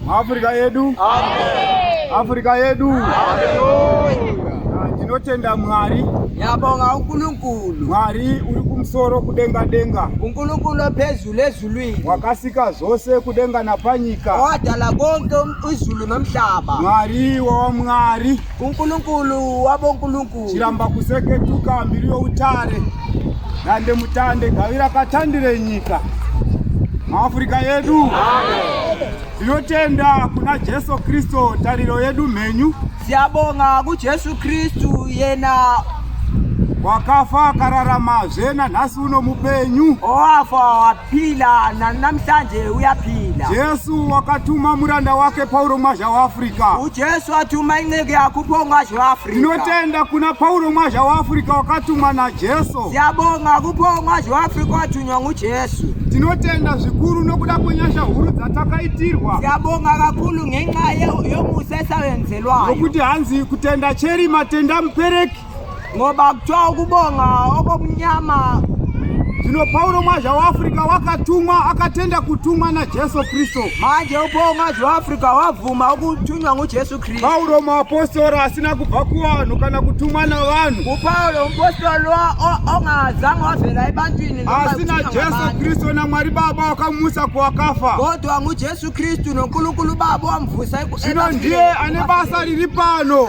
Afrika yedu Amen. Afrika yedu Ndinotenda Mwari Yabonga uNkulunkulu Mwari uri kumsoro kudenga denga uNkulunkulu ophezulu ezulwini wakasika zvose kudenga napanyika wadala konke um-, izulu nomhlaba Mwari wawamwari uNkulunkulu wabonkulunkulu chiramba kuseketuka mbiri youtare Dande mutande gavira katandire nyika maafurika yedu tinotenda kuna jesu kristu tariro yedu mhenyu siyabonga kujesu kristu yena wakafa akararamazve nanhasi uno mupenyu oafa Phila na- namhlanje uyaphila Jesu wakatuma muranda wake Pauro Mwazha waAfrica. ujesu wathuma inceku yakho uphongwashe weafrika Tinotenda kuna Pauro Mwazha waAfrica wakatumwa naJesu. siyabonga kuphongwashe weafrika wathunywa ngujesu Tinotenda zvikuru nokuda kwenyasha huru dzatakaitirwa. siyabonga kakhulu ngenxa ye- yomusa esawenzelwayo Nokuti hanzi kutenda cheri matenda mupereki. ngoba kuthiwa ukubonga okomnyama Zvino Pauro mwaja waAfrica wakatumwa akatenda kutumwa naJesu Kristu. Manje upo mwaja waAfrica wabvuma ukutunywa nguJesu Kristu. Pauro muapostora asina kubva kuvanhu kana kutumwa navanhu. UPauro mupostori ongazange wavela ebantwini. Asi naJesu Kristu naMwari Baba wakamutsa kuwakafa. Kodwa nguJesu Kristu noNkulunkulu Baba wamubvusa ekufeni. Zvino ndiye ane basa riri pano.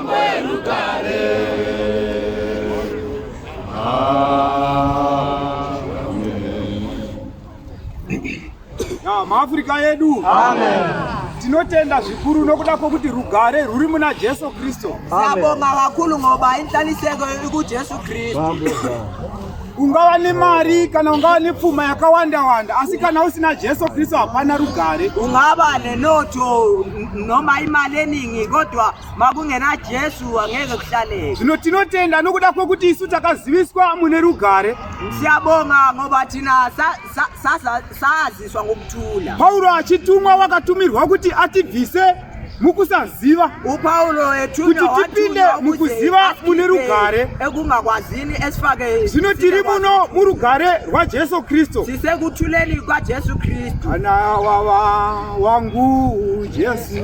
maafrica yedu tinotenda zvikuru nokuda kwokuti rugare rwuri muna jesu kristu sabonga vakulu ngoba inhlaniseko ikujesu kristu ungava nemari kana ungava nepfuma yakawanda wanda asi kana usina jesu kristu hapana rugare ungava nenoto noma imali eningi kodwa makungena jesu angeke kuhlaleka zvino tinotenda nokuda kwokuti isu takaziviswa mune rugare siyabonga ngoba thina saziswa ngokuthula paulo achitumwa wakatumirwa kuti atibvise mukusaziva upaulo etukuti tipinde mukuziva mune rugare ekungakwazini esifake zvino tiri muno murugare rwajesu kristu sisekuthuleni kwajesu kristu ana wawa wangu jesu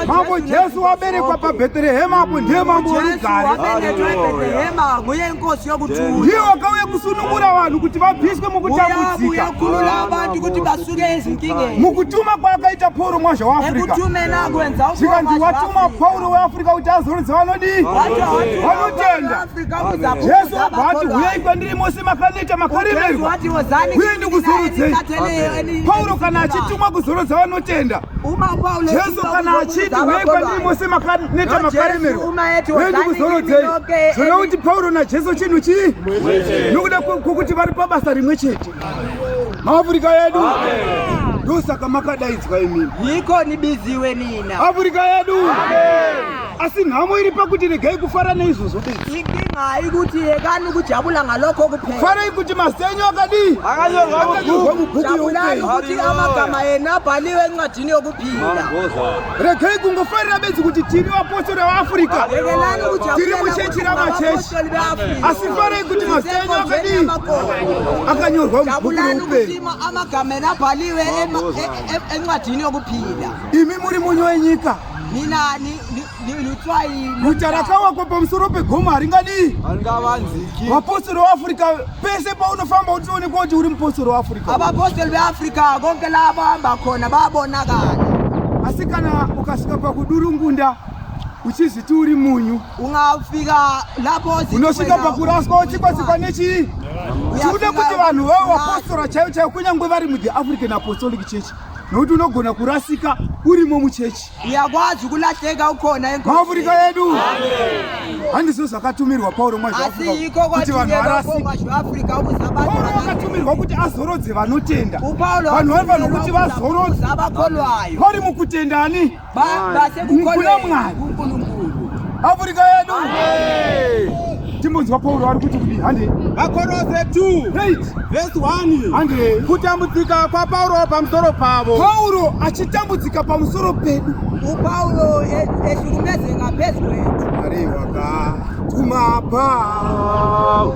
Mambo Jesu waberekwa paBheterehema apo ndiye mambo orugare. Ndiye wakauya kusunungura vanhu kuti vabviswe mukutambudzika. Mukutuma kwaakaita Pauro mwazha weAfrica. Zvikanzi watuma Pauro weAfrica kuti azorodza vanodii? Vanotenda. Jesu abva ati huyai kwandiri mose makaneta makaremerwa. Huyai ndikuzorodzei. Pauro kana achitumwa kuzorodza vanotenda. Jesu kana achiti uye kwandiri mose makaneta makaremerwa uye ndikuzorodzei zvoreva kuti Pauro naJesu chinhu chii nokuda kwokuti vari pabasa rimwe chete maafurika yedu ndosaka makadaidzwa imini yiko nibiziwe nina afurika yedu Amen. asi nhamo iri pakuti regai kufara neizvozvo inkinga haikuti yekani kujabula ngalokho kuphela farai kuti mazita enyu akadii akanyorwa mubhuku jabulani kuti amagama enu abhaliwe encwadini yokuphila regai kungofarira bedzi kuti tiri vapostori vaafurika tiri muchechi ramachechi asi farai kuti mazita enyu akadii akanyorwa mubhuku youpenyu amagama enu abhaliwe encwadini yokuphila imi muri munyu wenyika Guta rakawakwa pamusoro pegomo haringadii vapostori weafrica pese paunofamba utioonekwa kuti uri mupostori weafrica avapostori veafrica konke la vahamba khona babonakala asi kana ukasvika pakudurungunda uchizviti uri munyu ungafika lapo unosvika pakuraswa uchikwasikwa nechii chiude kuti vanhu vavo vapostora chaivo chaivo kunyange vari muthe african apostolic church nokuti unogona kurasika urimo muchechi uyakwazi kulahleka ukhona enkomaafurika yedu handizvo zvakatumirwa pauro mwazvakuti vanhu varasikaakaatumirwa kuti azorodze vanotenda vanhu vari vanhu kuti vazorodze vari mukutendani Baba sekukona mwari. Afrika yedu. Timbunzwa Paulo ari kuti kudii hande. Vakorose 2 vhesi 1 hande. Kutambudzika kwaPauro pamusoro pavo. Pauro achitambudzika pamusoro pedu. Paulo eshurumedzeka phezu kwedu. Mwari wakatuma Pauro.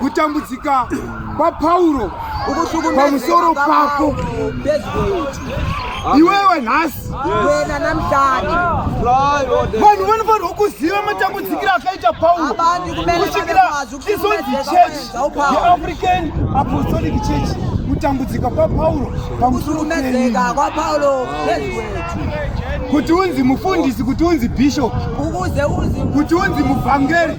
kutambudzika kwapauro pamusoro pako iwewe nhasi wena namhlanje vanhu vanofanirwa kuziva matambudzikiro akaita pauro kusvikira izonzi church yeafrican apostolic church kutambudzika kwapauro pamusoro kwapauro kuti unzi mufundisi kuti unzi bishop kuti unzi muvhangeri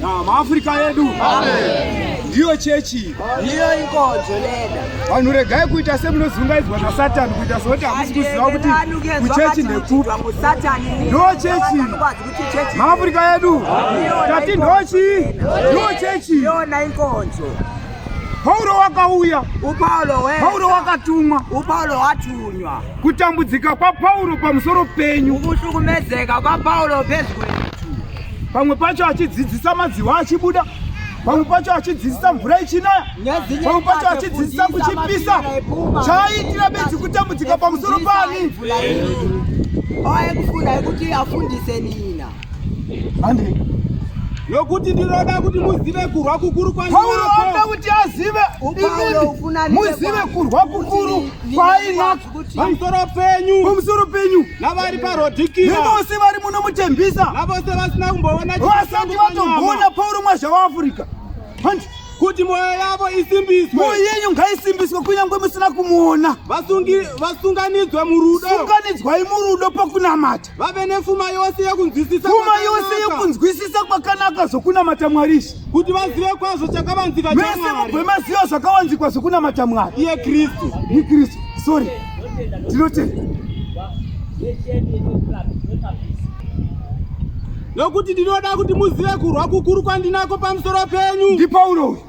Na maAfrica yedu. Amen. ndiyo chechi ndiyo inkonzo lena vanhu regai kuita semunozungaidzwa nasatani kuita sekuti hamusi kuziva kuti kuchechi nekupi ndo chechi maafurika yedu tati ndochi ndo chechi yona inkonzo pauro wakauya pauro wakatumwa pauro watunywa kutambudzika kwapauro pamusoro penyu kuhlukumedzeka kwapauro pezwe pamwe pacho achidzidzisa madziwa achibuda pamwe pacho achidzidzisa mvura ichinaya pamwe pacho achidzidzisa kuchipisa chaaitira bedzi kutambudzika pamusoro pani aekufunda ekuti afundise nina hande yokuti ndinoda kuti muzive kurwa kukuru kwaauroda kuti azive muzive kurwa kukuru kwainako pamusoro penyu pamusoro penyu navari parodhikira nevose vari muno mutembisa navose vasina kumboona vasati vatogona paurumwa zvavaafurika handi kuti mwoyo yavo isimbiswe mwoyo yenyu ngaisimbiswe kunyange musina kumuona vasunganidzwe murudo sunganidzwai murudo pakunamata vave nepfuma yose yekunzwisisa pfuma yose yekunzwisisa kwakanaka zvokunamata mwari izvi kuti vazive kwazvo chakavanzika mese mubve maziva zvakawanzikwa zvokunamata mwari iye kristu ni kristu sorry tinotenda nokuti ndinoda kuti muzive kurwa kukuru kwandinako pamusoro penyu ndipauro uyu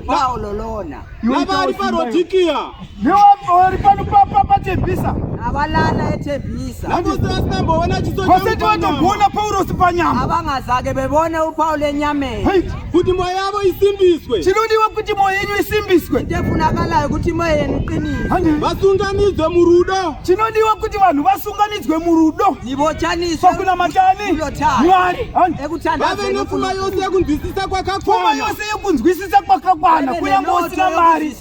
Paololona. Nabari parodikia. Ndiwapori pano papa patebisa. Avalana etebisa. Nakuti asinambo wana chiso chako. Vaseti vatogona Paulo sipanyama. Avanga zake bebona uPaulo enyame. Kuti moyo yavo isimbiswe. Chinodiwa kuti moyo yenyu isimbiswe. Ndefunakala kuti moyo yenu qinise. Vasunganidzwe murudo. Chinodiwa kuti vanhu vasunganidzwe murudo. ndivochaniswakunamatani mwari vave nepfuma yose yekunzwisisa kwakakwana yose yekunzwisisa kwakakwana kunyange usina mari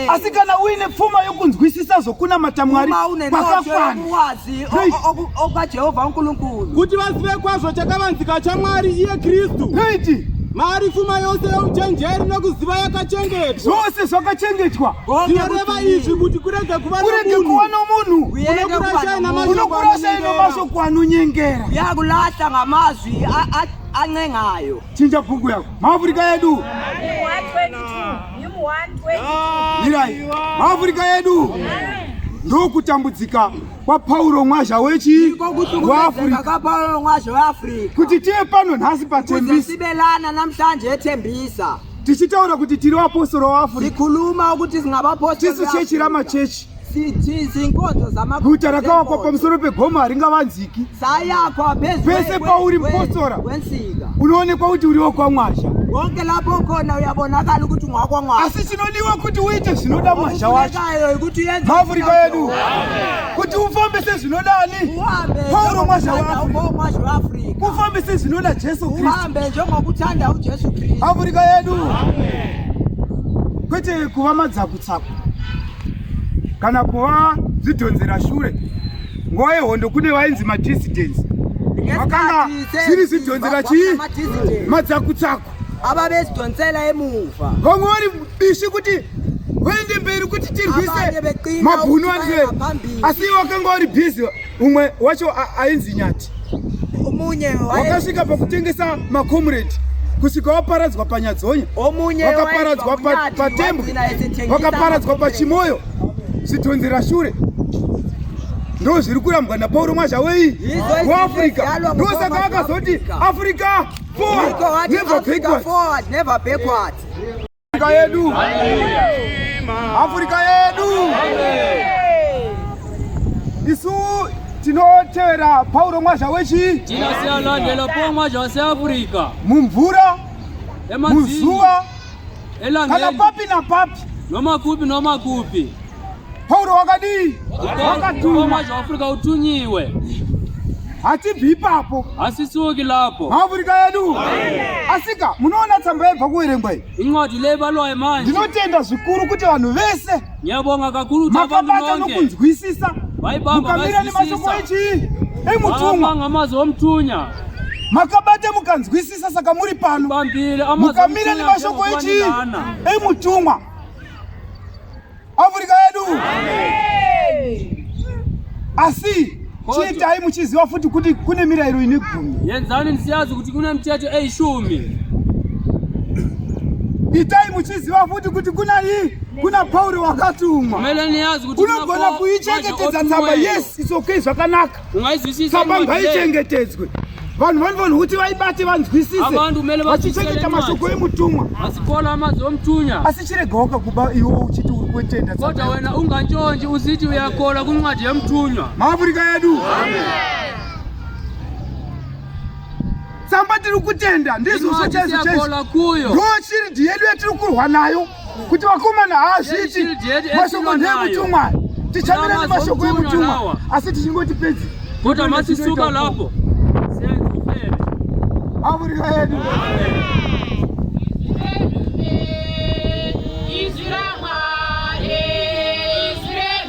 asi kana uine pfuma yokunzwisisa zvokunamata mwari kwakakwanaajehovha nkulunkulu kuti vazive kwazvo chakavanzika chamwari iye kristu mari pfuma yose yeuchenjeri nekuziva yakachengetwa zvose zvakachengetwa zvinoreva izvi kuti kurega kuva nomunhu unokurasa ino mashoko anonyengera yakulahla ngamazwi ancengayo chinja bhuku yako maafurika yedu mirai maafurika yedu ndokutambudzika kwapauro mwazha wechi kuti tive pano nhasi patembisa tichitaura kuti tiri vapostora waafrica tikhuluma ukuthi singavapostora tisu chechi ramachechi guta rakawakwa pamusoro pegoma haringavanziki pese pauri mupostora unoonekwa kuti uriwo kwamwazha konke lapho khona uyabonakala ukuthi ungakwangwa asishinoliwa ukuthi uyithe zinoda manja wakhe ukuthi yenze Afrika yenu ukuthi ufambe sezinodani uhambe Paulo manja wakhe ufambe sezinoda Jesu Kristu Afrika yedu kwete kuva madzakutsako kana kuva zvidhonzera shure. Nguva yehondo kune vainzi madissidents vakanga zviri zvidhonzera chii madzakutsako ava vezidhonzera emuva vamwe vari bishi kuti vaende mberi kuti tirwise mabhunu anzvera asi ivo vakanga vari bhizi umwe wacho ainzi nyati wakasvika pakutengesa macomrade kusvika waparadzwa panyadzonya wakaparadzwa patembwe wakaparadzwa pachimoyo zvitonzera shure ndo zviri kurambwa napauro mwazhawei kuafrica ndosaka akazoti africa forward never backwards Afrika yedu. Afrika yedu. Isu tinotevera Paulo Mwazha wechi tinasiyalandela Paulo Mwazha wase Afrika mumvura muzuva kana papi na papi noma kupi noma kupi Pauro wakadii? Wakatuma zvaafurika utunyiwe. Hatibvi ipapo. Hasisuki lapo. Maafurika yedu. Asika munoona tsamba yebva kuverengwa iyi. Incwadi leyi balwayo manje. Ndinotenda zvikuru kuti vanhu vese. Ngiyabonga kakulu kuti abantu bonke. Makabata nokunzwisisa. Vaibamba mukamira nemashoko echii? Emutumwa. Ngamazwi omthunya. Makabata mukanzwisisa saka muri pano. Mukamira nemashoko echii? Emutumwa. Afrika yedu. Asi chiitai muchiziva futi kuti kune mirayiro ine gumi. Yenzani msiyazi kuti kune miteto eishumi. Itai muchiziva futi kuti kuna hii kuna Pauri wakatumwa. Unogona kuichengetedza tsamba. Yes, it's okay zvakanaka. tsamba ngaichengetedzwe vanhu vanofanirwa kuti vaibate vanzwisise vachichengeta mashoko emutumwa asikola amazi omutunya asi chiregaoka kuba iwo uchiti uri kwetenda kota wena unganjonji uziti uyakola kuncwadi yemutunywa maafurika yedu tsamba tiri kutenda ndizvo zvochaizochaizo ndoshiridi yedu yatiri kurwa nayo kuti vakomana haazviti mashoko ndeemutumwa tichamira nemashoko emutumwa asi tichingoti pedzi kuti amasisuka lapo avurira yedu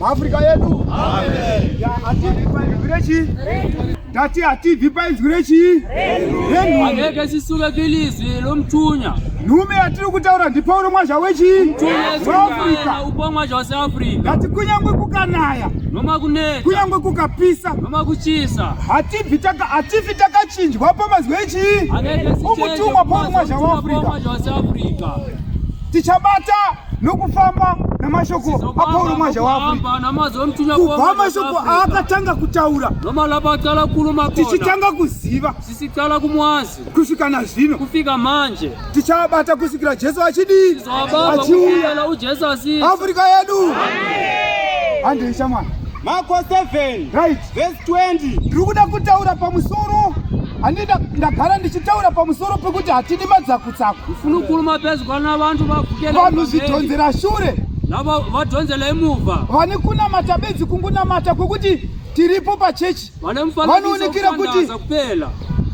Afrika yedu tati hatibvi painzwi rechii angeke sisuke kilizwi lomthunya nhume yatiri kutaura ndipauro mwazha wechii muafrika Kupomwa chose Africa. Ngati kunyangwe kukanaya. Noma kuneta. Kunyangwe kukapisa. Noma kuchisa. Hatifi taka hatifi takachinjwa pamazwi echii. Umutumwa pomwa zvaafrica. Tichabata nokufamba namashoko apauro mwaja wakubva mashoko aakatanga kutaura tichitanga kuziva kusvika nazvino kufika manje tichavabata kusvikira jesu achidii achiuya afrika yedu handei shamwana marko 7 right vese 20 ndiri kuda kutaura pamusoro handida ndagara ndichitaura pamusoro pekuti hatidi madzakutsaku funu kuruma pezwa navanhu vavanhu zvidhonzera shure navo vadhonzela imuva vane kunamata bedzi kungunamata kwekuti tiripo pachechi vanoonekera kuti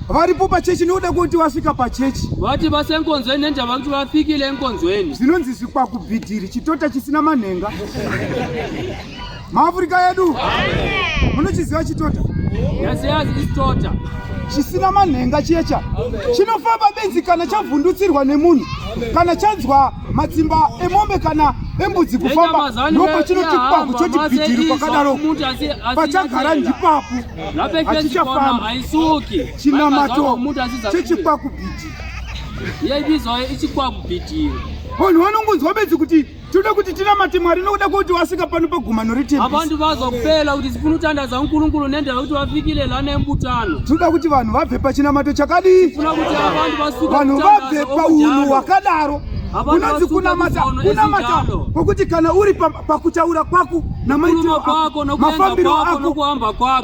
varipo pachechi nokuda kwekuti vasvika pachechi vati vase enkonzweni nendava kuti vafikile enkonzweni zvinonzi zvikwakubhidhiri chitota chisina manhenga maafurika yedu munochiziva chitota yasiyaziistota chisina manhenga chiyecha chinofamba benzi kana chavhundutsirwa nemunhu kana chanzwa matsimba emombe kana embudzi kufamba ndopachinoti kwaku choti bhidhiri kwakadaro pachagara ndipapo hachichafamba chinamato chechikwaku bhidhiri yaibizoyo ichikwaku bhidhiri vanhu vanongonzwa bedzi kuti tinoda kuti tinamate mwari nokuda kwekuti wasika pano pagumano retembisi avantu vazwa kupela kuti sifunotandadza nkulunkulu nendava kuti vafikile lani tinoda kuti vanhu vabve pachinamato chakadii vanhu vabve paunhu hwakadaro unonzi kunamata kunamata kwokuti kana uri pakutaura kwako namaitiro ako mafambiro ako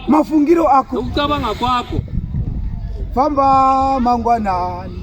mafungiro ako famba mangwanani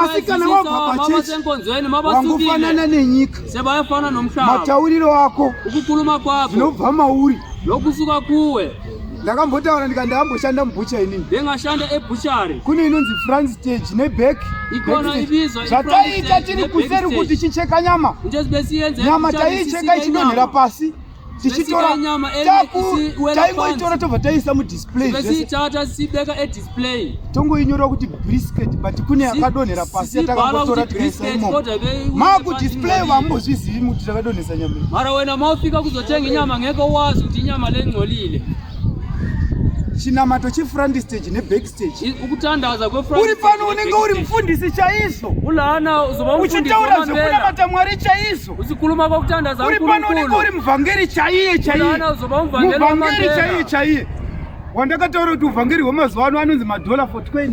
asi kana wabva pachechi wangofanana nenyika matauriro ako zvinobva mauri nokusuka kuwe ndakambotaura ndika ndakamboshanda mubhucha inini ndingashanda ebuchari kune inonzi france stage neback zvataita tiri kuseri kuti chicheka nyama nyama taiicheka ichidonhera pasi tichitora nyama taingoitora tobva taisa mudisplay tongoinyora kuti brisket but kune yakadonhera pasi yatakangotora tikaisa imomo makudisplay vambozvizivi muti takadonhesa nyama mara wena maufika kuzotenga nyama ngeke wazi kuti inyama lengcolile chinamato chifrandi stage neback ukutandaza uri pano unenge uri mufundisi chaizvo ulaana uzoba uchitaura zvekunamata mwari chaizvo uzikhuluma kwakutandaza uri pano unenge uri muvhangeri chaiye chaiyemuvhangeri chaiye chaiye wandakataura kuti uvhangeri hwemazuva ano anonzi madhola for 20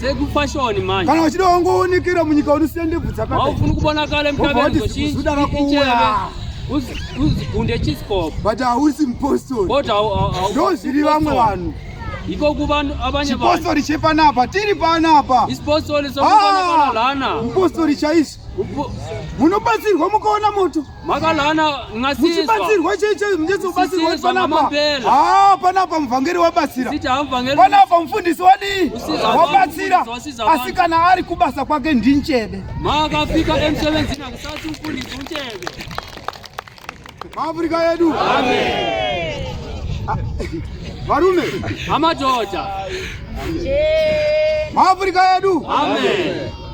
sekufashoni manje kana uchida wangoonekera munyika unosiya ndebvu dzakaaufuni kubona kale mtavezochiuda kakuuya uzigunde chiscob but hausi mpostori ndo zviri vamwe vanhu iko kuvanhu abanye chipostori chepanapa tiri panapa isipostori sokuonekana ah, lana mpostori chaizvo munobatsirwa mukaona moto makalana ngasimuchibatsirwa cheche muchizobatsirwa kuti panapa haa panapa muvhangeri wabatsira panapa mufundisi wadii wabatsira asi kana ari kubasa kwake ndinchebe makafika emsebenzini akusati mfundisi uchebe maafrika yedu varume amadhodha maafrika yedu Amen.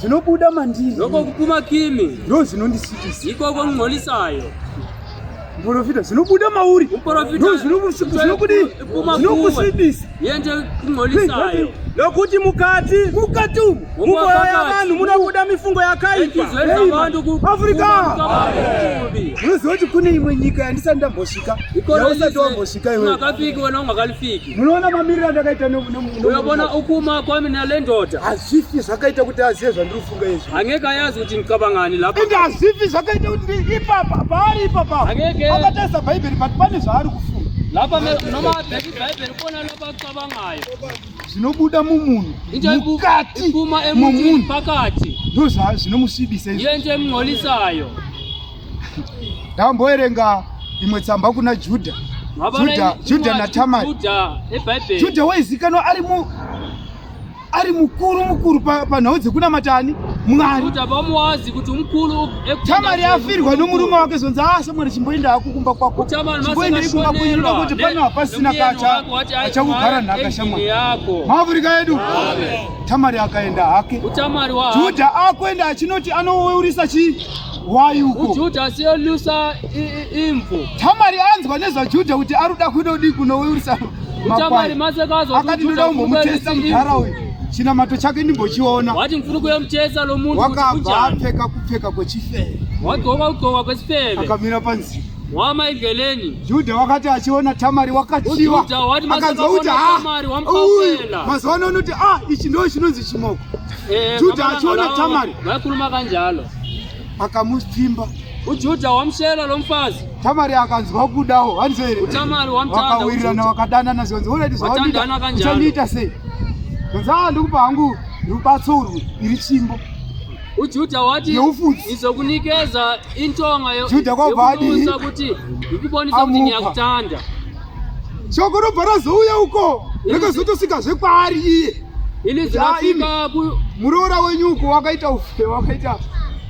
zvinobuda mandiri ndoko kupuma kimi ndo zvinondisvitisa ikoko ng'olisayo muporofita zvinobuda mauri zvinokusvibisa yende kung'olisayo nokuti mukati mukati umu mumoyo yavanhu munobuda mifungo yakaipaafrika munoziva kuti kune imwe nyika yandisati ndambosvika yausati wambosvika iweakafiki wena ungakalifiki Munoona mamiriro andakaita neuyobona ukuma kwami nelendoda hazvifi zvakaita kuti azive zvandiri kufunga izvi angeke ayazi kuti ndicabangani lapo ende hazvifi zvakaita kuti ipapa paari ipapa akatarisa bhaibheri but pane zvaari kufunga lapa nomabheki bhaibheri kuona lapa kucabangayo zvinobuda mumunhu mukati momunhu pakati ndozvinomusvibisa iye nje mung'olisayo ndamboerenga imwe tsamba kuna judha judha judha natamari judha waizikanwa ari mu ari mukuru mukuru panhau dzekunamatani mwari tamari afirwa nomurume wake zonzi asa ah, mwari chimboenda hako kumba kwako chimboendei kumba kwenyu noda kuti pano hapasina kacha achakugara nhaka shamwari maafurika yedu tamari akaenda hake judha akuenda achinoti anoweurisa chii Why uko? Ujuda siolusa imvu. Tamari anzwa nezvaJudha kuti ari kuda kunodii kunouyisa makwai. Akati ndoda kumbomutesta mudhara uyu. Chinamato chake ndimbochiona. Wati mfuna kuyomutesta lo munhu. Wakabva apfeka kupfeka kwechifeve. Wadzoka kudzoka kwechifeve. Akamira panzira. Wama igeleni. Juda wakati achiona Tamari wakachiwa. Akanzwa kuti ah, mazuva ano unoti ah, ichi ndo chinonzi chimoko. Eh, Juda achiona Tamari. Vakuruma kanjalo. akamutimba ujuda wamshela lo mfazi tamari akanzwa kudawo hanzi here utamari wamtanda wakawirirana wakadanana zvanzi unaiti zvawandiita uchandiita sei zvanzi aa ndikupa hangu rubatso urwu iri chimbo ujuda wati izokunikeza intonga yekuisa kuti ikubonisa kuti ndiyakutanda shoko robva razouya uko rakazotosvika zvekwaari iye ini zvaasvika ku muroora wenyu uko wakaita ufebe wakaita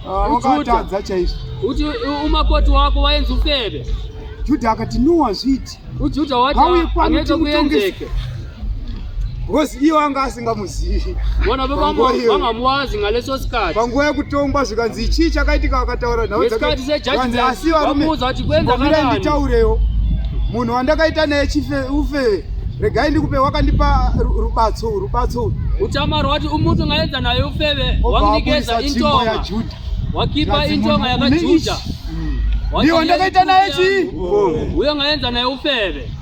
ah, wakatadza chaizvo kuti umakoti wako waenzi ufebe judha akati no hazviiti ujuda wati Hauye kwani anoita kuti mutongese. kuyenzeke because iye wanga asingamuzivi vona vanga muwazi ngaleso sikati panguva yekutongwa zvikanzi chii chakaitika vakataura nhau dzakanzi asi varume vamira nditaurewo munhu wandakaita naye chife ufe regai ndikupe wakandipa rubatso rubatso uchama rwati umutu ngaenza naye ufeve wanginikeza intonga wakipa intonga yakajuja ndiyo ndakaita naye chii uyo ngaenza naye ufeve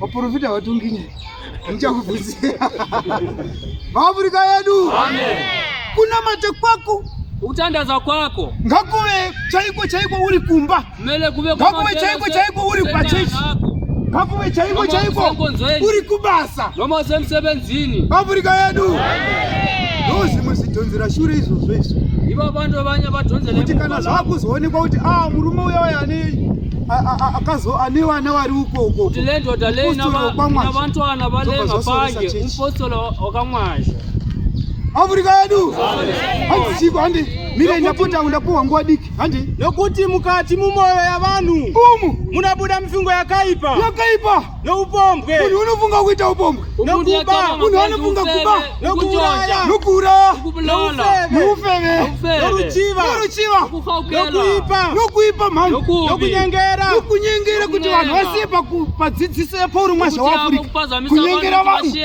Waprofita watunginya. Ndichakubvunzira. Maafrika yedu. Amen. Kuna mate kwako kutandaza kwako ngakuve chaiko chaiko uri kumba mele kuve ngakuve chaiko chaiko uri pachechi ngakuve chaiko chaiko uri kubasa nomose musebenzini afrika yedu ndozvimwe zvidhonzera shure izvozvo izvo ivo vanhu vanya vadhonzera kuti kana zvakuzoonekwa kuti a ah, murume uya uya anei akazo ane vana vari uko uko kuti lendo dalei na vantu ana vale mapanje umpostolo wakamwaza Afrika yedu handi chiko handi mire ndapota undapuwa nguwa diki handi nokuti mukati mumoyo yavanhu umu munabuda mifungo yakaipa yakaipa noupombwe munhu unofunga kuita upombwe nokuba munhu anofunga kuba nokuuraya nokuuraya noufeve noruchiva noruchiva nokuipa nokuipa mhani nokunyengera nokunyengera kuti vanhu vasiye padzidziso yepauri mwasha waafurika kunyengera vanhu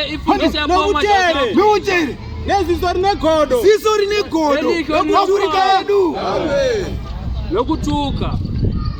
nouchere nouchere neziso rine godo ziso rine godo nokuafurika yedu nokutuka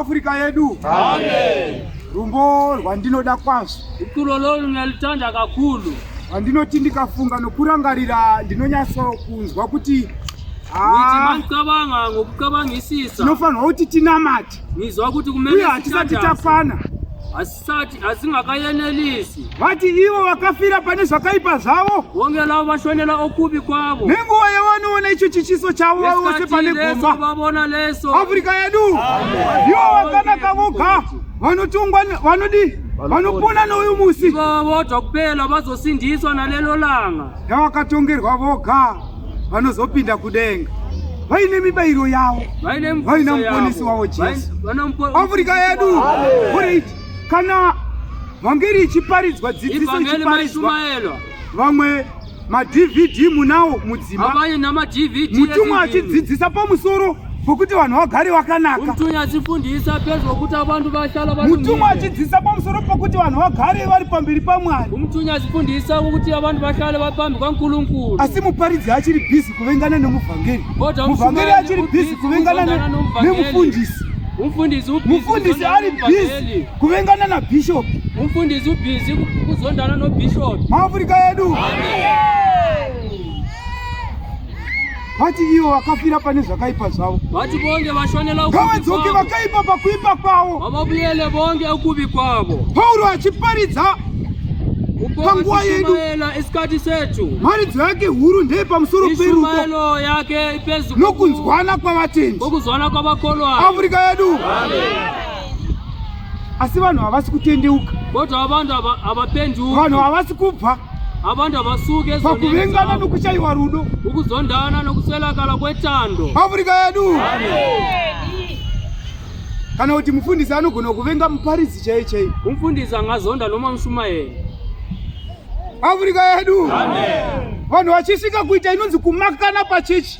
Afrika yedu. Amen. Rumbo rwandinoda kwazvo. Ikuro lolu nalutanda kakulu. Rwandinoti ndikafunga nokurangarira ndinonyatso kunzwa kuti ah, mancabanga ngokucabangisisa. Tinofanirwa kuti tinamate. Ngizwa kuti kumele uye hatisati takwana. sati hazingakayenelisi vati ivo vakafira pane zvakaipa zvavo honge lavo vashonela okubi kwavo nenguva yavanoona icho chichiso chavo vave vose pane gomba vavona leso afrika yedu ivo vakanaka voga vanotongwa vanodii vanopona nouyu musi ivo vodwa kupela vazosindiswa nalelo langa yavakatongerwa voga vanozopinda kudenga vaine mibairo yavo vaina muponesi wavo jesu afrika yedu kurit kana vhangeri ichiparidzwa dzidziso ichiparidzwa vamwe madvd munawo mudzimba mutumwa achidzidzisa pamusoro Pokuti vanhu vagari vakanaka. Mutumwa achifundisa pezvo kuti abantu bahlala bari. Mutumwa achidzisa pamusoro pokuti vanhu vagare vari pamberi paMwari. Mutumwa achifundisa kuti abantu bahlale vari pambi kwaNkulunkulu. Asi muparidzi achiri busy kuvengana nemuvhangeri. Muvhangeri achiri busy kuvengana nemufundisi. Mufundisi ubhizi. Mufundisi ari busy kuvengana nabishop. Mufundisi ubhizi kuzondana nobishop. MaAfrika edu. Amen. vati ivo vakafira pane zvakaipa zvavo vati vonge vashonela ngavadzoke vakaipa pakuipa kwavo vavabuyele vonge ukuvi kwavo pauro achiparidza panguva yedu isikati setu mharidzo yake huru ndeye pamusoro peruko yake ipezu nokunzwana kwavatendi nokuzwana kwavakolwa afrika yedu Amen. asi vanhu havasi kutendeuka kodwa abantu abapenduki vanhu havasi kubva abantu abasuke pakuvengana nokushaiwa rudo ukuzondana nokuswelakala kwetando afrika yedu kana kuti mufundisi anogona kuvenga muparidzi chaiye chaiye umfundisi angazonda noma mushumayeri afrika yedu vanhu vachisvika kuita inonzi kumakana pachechi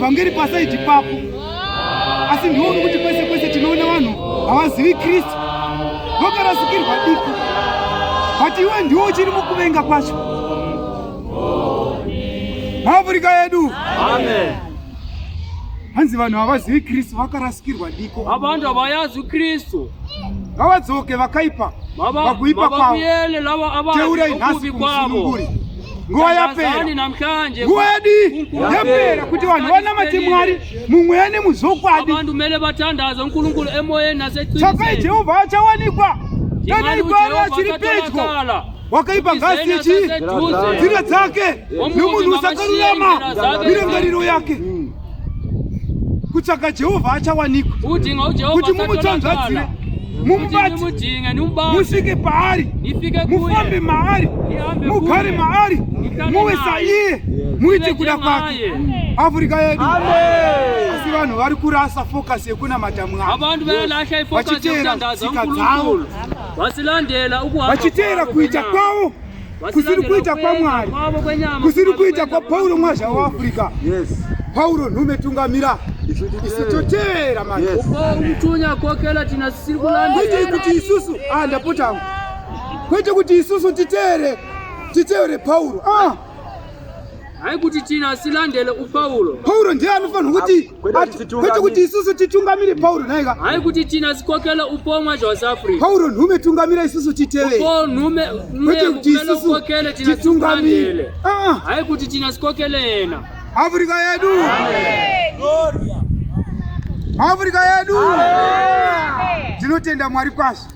vhangeri pasaidi papo asi ndiwo nokuti kwese kwese tinoona vanhu havazivi kristu vokarasikirwa diki but iwe ndiwo uchiri mukuvenga kwacho maafurika yedu Amen. hanzi vanhu havazivi kristu vakarasikirwa diko havanhu havayazi kristu ngavadzoke vakaipa vakuipa kwavoteurai nhasi kumusununguri nguva yapera nguva yadii yapera kuti vanhu vanamate mwari mumweya nemuzokwadi tsvakai jehovha achawanikwa kana igwaro achiri pedyo wakaipa ngazi yechi nzira dzake nomunhu usakarurama mirangariro yake hmm. kutsvaga jehovha achawanikwa kuti mumutsanzvadzire mumubati musvike paari mufambe maari mugare maari muve saiye muite kuda kwake afrika yedu asi vanhu vari kurasa focus yekunamata mwari vachiteera tsika dzavo vachiteera kuita kwavo kusiri kuita kwamwari kusiri kuita kwapauro mwazha waafrica pauro nhume tungamira isu toteera mamutunya kokela tina sisiri kulandaite kuti isusu a ah, ndapotangu kwete kuti isusu titeere titeere pauro ah. haikuti tina silandele upauro pauro ndiye anofanira kuti kwete kuti isusu titungamire pauro nhaika hai kuti tina sikokelo upomwa zvawasafri pauro nhume tungamira isusu titeveupo nhume kwete kuti isusu titungamire ah. hai kuti tina sikokelo yena afrika yedu afrika yedu tinotenda mwari kwazvo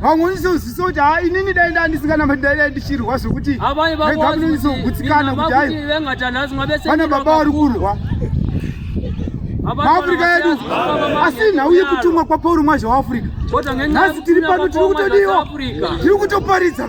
vamwe unizozvisa kuti ha inini dai ndaa ndisinganamati dai dai ndichirwa zvekuti rega munonizogutsikana kuti hai vana baba vari kurwa maafrica yedu asi nhau yekutumwa kwapauri mwazha waafrica nhasi tiri pano tiri kutodiwa tiri kutoparidza